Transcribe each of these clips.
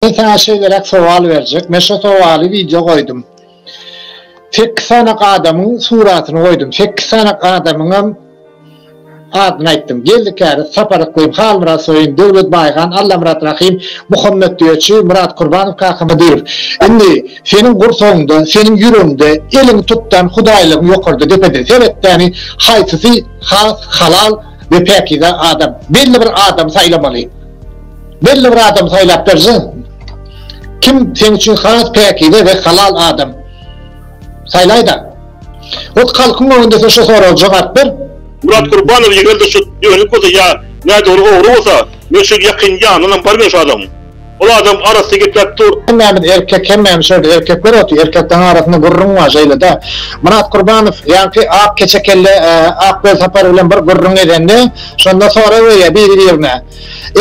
Men saňa şeýleräk sowal berjek. Men şo sowaly wideo goýdum. Sekiz sany adamyň suratyny goýdum. Sekiz sany adamyňam adyny aýtdym. Geldi Käriz, Sapar Yklym, Halmyrat Soýun, Döwlet Baýgan, Allamyrat Rahym, Muhammet Düýeçi, Myrat Kurbanow kaka Hydyrow. Indi seniň gursagyňda, seniň ýüregiňde eliňi tutdan hudaýlygyň ýokarda depede seretdäni haýsysy has halal, we päkize adam, belli bir adamy saýlamaly. Belli bir adamy saýlap berseň, kim seň üçin has päkize we halal adam saýlaýda? Ot halkyň öňünde sen şu soraga jogap ber. Murat Gurbanow eger-de şu dönük bolsa ýa nädogry ogry bolsa, men şu ýakyn ýanynam bar men şu adamyň. Ol adam arassa gepläp dur. Hemmämiz erkek hemmämiz şol erkekler oty erkekleň arasynda gürrüň bar şeýlede Myrat Kurbanow ýaňky ak keçe kelle ak göz sapar bilen bir gürrüň edende şonda sorag berýär biri birine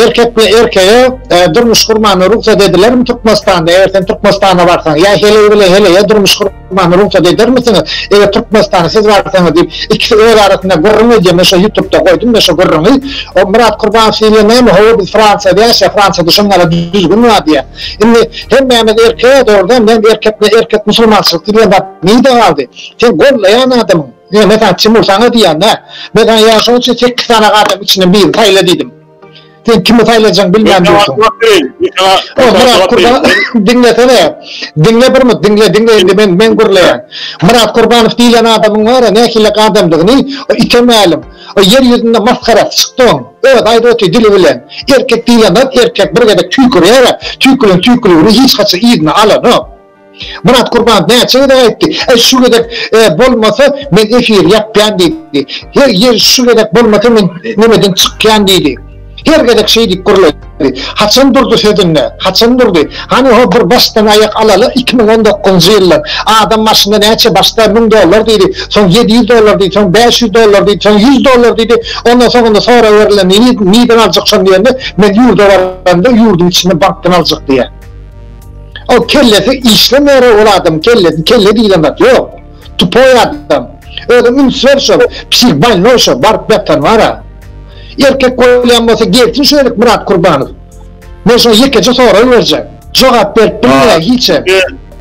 erkek bilen erkege durmuş gurmagna rugsat edilermi Türkmenistanda eger sen Türkmenistana barsaň ýa heleý bilen heleýe durmuş Many rugsat edermisiňiz? Eger Türkmenistana siz barsaňyz diýip, ikisi öz arasynda gürrüň edýär. Men şo ýutubda goýdum-da şo gürrüňi. O Myrat Kurbanow diýilýän näme? Hawa, biz Fransiýada ýaşaýar, Fransiýada şonuň ýaly düzgün bar diýýär. Indi hemmämiz erkek, dogrudanam näme erkek, ne erkek musulmançylyk diýilýän zat nirde galdy? Sen gollaýan adamyň, men saňa Timur saňa diýýän-dä. Men saňa ýa şonuň üçin sekiz sany adamyň içinden birini saýla diýdim. Sen kimi saýlajaň bilmän dursuň. Myrat Kurban diňlesene. Diňle bir mut diňle diňle indi men men gürleýän. Myrat Kurbanow diýlen adamyň bar ya nähili adamdygyny ite mälim. O ýer ýüzünde masgarasy çykdy oň. Öz aýdyp otyr dili bilen. Erkek diýlen zat erkek bir gezek tüýkürýär-ä. Tüýkülen tüýküligini hiç haçan yzyna alanok. Myrat Gurban näçe gezek aýtdy, Äý şu gezek bolmasa men efir ýapýan diýdi. Her ýer şu gezek bolmasa men ýerden çykýan diýdi. Her gezek şeý diýip gürledi. Haçan durdy sözünde? Haçan durdy? Hany ho bir başdan aýak alaly iki müň on dokuzynjy ýyldan. Adam maşyna näçe başda müň dollar diýdi, soň ýedi ýüz dollar diýdi, soň bäş ýüz dollar diýdi, soň ýüz dollar diýdi. Ondan soňunda sorag berilende nirden aljak şony diýende men ýurda baranda ýurduň içinde bankdan aljak diýýär. Ol kellesi işlemeýärä ol adam kellesi kelle diýilen zat ýok. Tupoý adam. Özüň üns ber şol psih bolnoý şo baryp ýatan bara. Erkek bolýan bolsa gelsin şu ýerik Myrat Kurbanow. Men şoňa ýekeje sorag berjek. Jogap berip bilmeýär hiçem.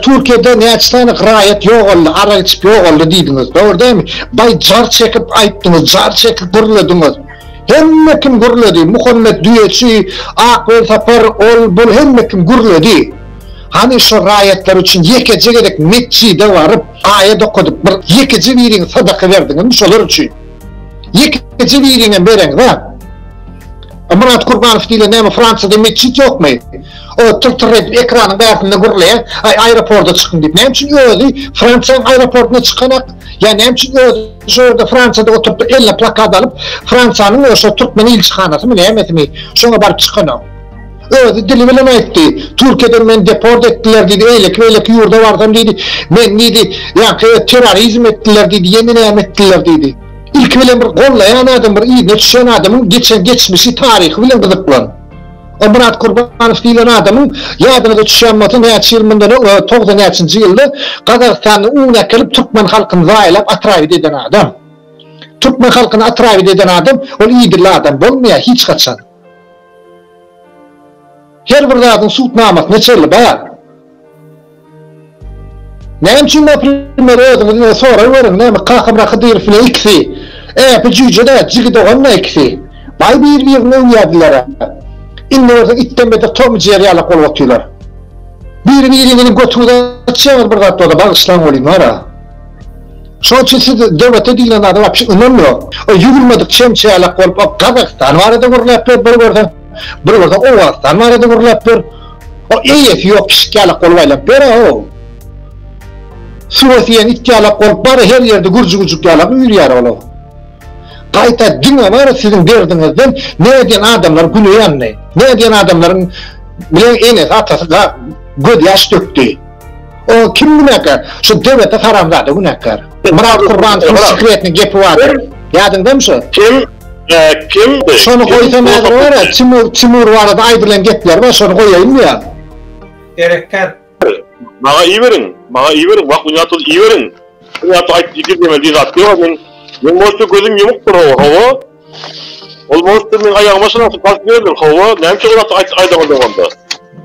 Türkiýede näçe sany raýat ýogaldy, arak içip ýogaldy diýdiňiz. Dogry dälmi? Baý jar çekip aýtdyňyz, jar çekip gürlediňiz. Hemme kim gürledi, Muhammet düýeçi, Ak Welsapar, ol, bul hemme kim gürledi. Hany şo raýatlar üçin ýekeje gezek metjide baryp, aýat okadyp, bir ýekeje biriňiz sadaka berdiňizmi şolar üçin? Ýekeje biriňem bereňzä. A Myrat Kurbanow diýlen näme Fransiýada metjit ýokmy? O tyr-tyr edip ekranyň bärsinde gürleýär, Aý aýroporda çykyň diýip. Näme üçin özi Fransiýanyň aýroportyna çykanak? Ýa näme üçin özi Şo ýerde Fransiýada oturtdyk eline plakat alyp, Fransiýanyň we şo türkmen ilçihanasymy, nämesimi, şoňa baryp çykanok. Özi dili bilen aýtdy, Türkiýeden meni deport etdiler diýdi, eýleki-beýleki ýurda barsam diýdi, meni diýdi, ýaňky terrorizm etdiler diýdi, ýene näme etdiler diýdi. Ilki bilen bir gollaýan adam, bir yzyna düşýän adamyň geçen geçmişi, taryhy bilen gyzyklan. O Myrat Kurbanow diýlen adamyň, ýadyňyza düşýänbolsa, näçe ýyl mundan öň, togsan näçenji ýylda Gazagystanda un äkelip, türkmen halkyny zaýalap, atrabit eden adam. Türkmen halkyny atrabit eden adam, ol idilli adam bolmaýar hiç haçan. Her bir zadyň subutnamasyna çeli bar. Näme üçin naprimer özüňizden sorag beriň näme kakamra hydyrow bilen ikisi äpi jüýjedä jigi doganda ikisi baý bir birini öwýädilerä indi görseň itden beter tom jeri ýalak bolup otyrlar biri biriňiziň götüňizi açýaňyz bir zat bolsa bagyşlaň welin bara şoň üçin siz döwlete diýlen zada wapşe ynam ýok o ýugurmadyk çemçe ýalak bolup o gazagystan barada gürläp ber bir görseň Bir bolsa Owganystan barada gürläp ýör. O eýesi ýok pişik ýalak bolup aýlap ýör-ow. Suwa siýen it ýalak bolup bar her ýerde gürjügüjik ýalak üýrýär ol-ow. Gaýta diňe bar siziň derdiňizden näme diýen adamlar güne ýandy. Näme diýen adamlaryň bilen enesi atasy göz ýaş dökdi. O kim günäkär? Şu döwetde haramzada günäkär. Myrat Kurbanowyň sekretini gepi bardyr. Ýadyňdamy şu? Kim? Kim? Şony goýsam häzir bar ýa, Timur, Timur barada aýdylan gepler bar, şony goýaýynmy ýa? Gerekgär. Maňa iberiň, maňa iberiň, wah ony ýatyl iberiň. Ony ýatyl aýt ýigit ýeme diýen zat ýok men. Men bolsa gözüm ýumukdyr o, hawa. Ol bolsa men aýagyma şunaky basyp ýörler, hawa. Näme üçin ony ýatyl aýt aýdaňyz onda?